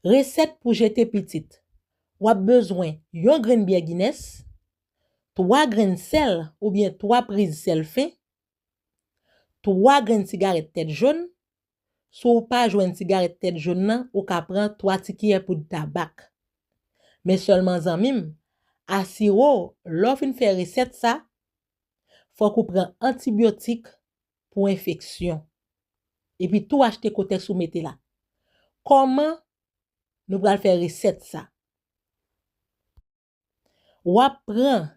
Resèt pou jete pitit Wap bezwen yon grenn byè Guinness, 3 grenn sèl oubyen 3 priz sèl fen, 3 grenn sigarèt tèt jonn, si w pa jwenn sigarèt tèt jonn nan ou ka pran 3 ti kiyè poud tabak. Men sèlman zanmi m, asire w lè w fin fè resèt sa, fòk ou pran antibyotik pou enfeksyon. Epi tou achte kotèks ou mete la. Kòman Nou pral fè resèt sa. Wap pran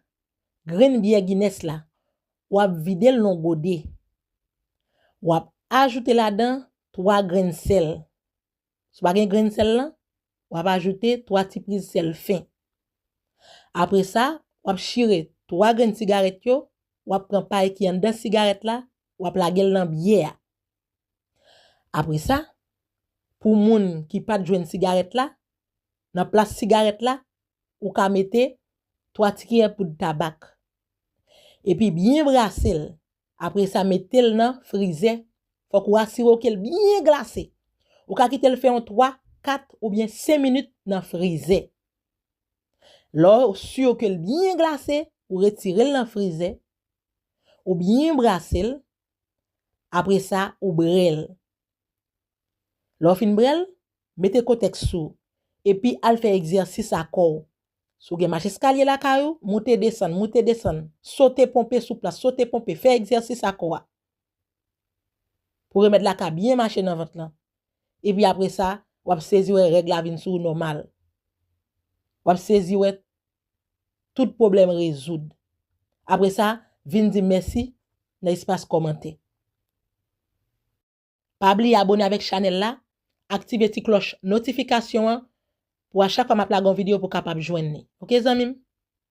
grenn byè Guinness la, wap vide l nan gode. Wap ajoute ladan 3 grenn sèl. Si w pa gen grenn sèl lan, w ap ajoute 3 ti priz sèl fen. Apre sa, w ap chire 3 grenn sigarèt yo, w ap pran pay ki anndan sigarèt la, w ap lage l nan byè a. Apre sa, pou moun ki pa t jwenn sigarèt la, nan plas sigarèt la, ou ka mete 3 ti kiyè poud tabak. Epi byen brase l, Apre sa mete l nan frizè, fòk ou asire w ke l byen glase. Ou ka kite l fè yon 3, 4 oubyen 5 minit nan frizè. Lè w si ke l byen glase, ou retire l nan frizè, ou byen brase l, apre sa ou bre l. Lè w fin bre l, Mete kotèks sou, epi al fè egzèsis a kò w. Si w gen macheskalye lakay ou, moute desann, moute desann, sote ponpe sou plas, sote ponpe, fè egzèsis a kò a. Pou remèd la ka byen mache nan vant lan. Epi apre sa, w ap sezi wè règ la vin sou ou nòmal. W ap sezi wè tout pwoblèm rezoud. Apre sa, vin di m mèsi nan espas kòmantè. Pa bliye abone avèk chanèl la, aktive ti klòch notifikasyon an pou a chak fwa map lage yon video pou kapab jwenn li ok zanmim.